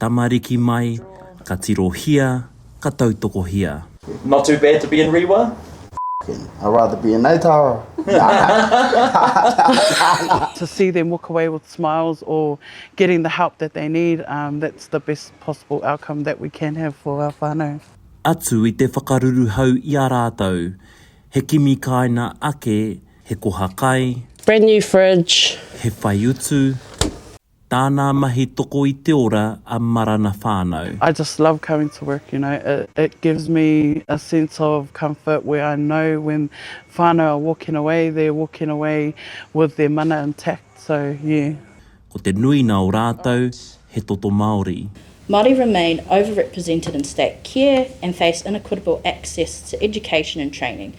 Tamariki mai, ka tirohia, ka tautokohia. Not too bad to be in Rewa? F***ing, I'd rather be in Naitara. to see them walk away with smiles or getting the help that they need, that's the best possible outcome that we can have for our whanau. Atu i te whakaruruhau i a rātou, he kimi kāina ake, he koha kai. Brand new fridge. He whaiutu. Tānā mahi toko i te ora a Marana Whānau. I just love coming to work you know it it gives me a sense of comfort where I know when whānau are walking away they're walking away with their mana intact so yeah. Ko te nuina o rātou he toto Māori. Māori remain overrepresented in state care and face inequitable access to education and training.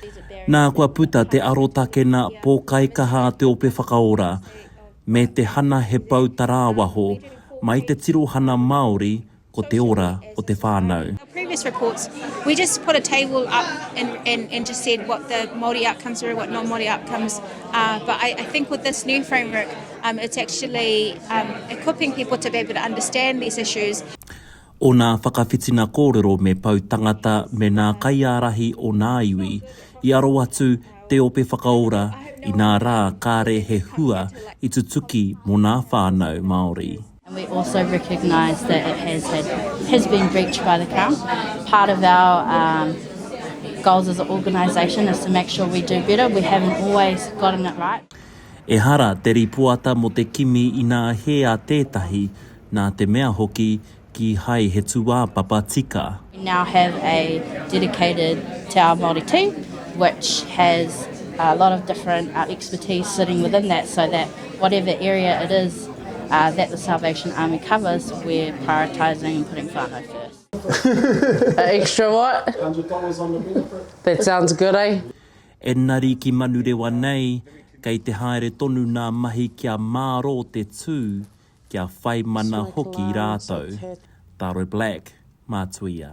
These are barriers that Nā kua puta te arotakena pōkaikaha a te Ope Whakaora, me te hana he pou tarāwaho mai te tirohana Māori ko te ora o te whānau. Our previous reports, we just put a table up and and and just said what the Māori outcomes were, what non-Māori outcomes are, but I I think with this new framework, um it's actually um equipping people to be able to understand these issues. Ōna whakawhitinga kōrero me Pou Tangata me nā kaiārahi o nā iwi, i aro atu Te Ope Whakaora inā rā kāre he hua i tutuki mō nā whānau Māori. And we also recognise that it has had, has been breached by the Crown. Part of our um, goals as an organisation is to make sure we do better. We haven't always gotten it right. Ehara te rīpoata mō te kimi inā hē a tētahi, nā te mea hoki kīhai he tūāpapa tika. We now have a dedicated Te Ao Māori team which has a lot of different expertise sitting within that so that whatever area it is that the Salvation Army covers we're prioritising and putting whānau first. A extra what? A hundred dollars on the benefit. That sounds good, eh? Engari ki Manurewa nei, kei te haere tonu ngā mahi kia mārō te tū kia whai mana hoki rātou, Taro Black, Mātuia.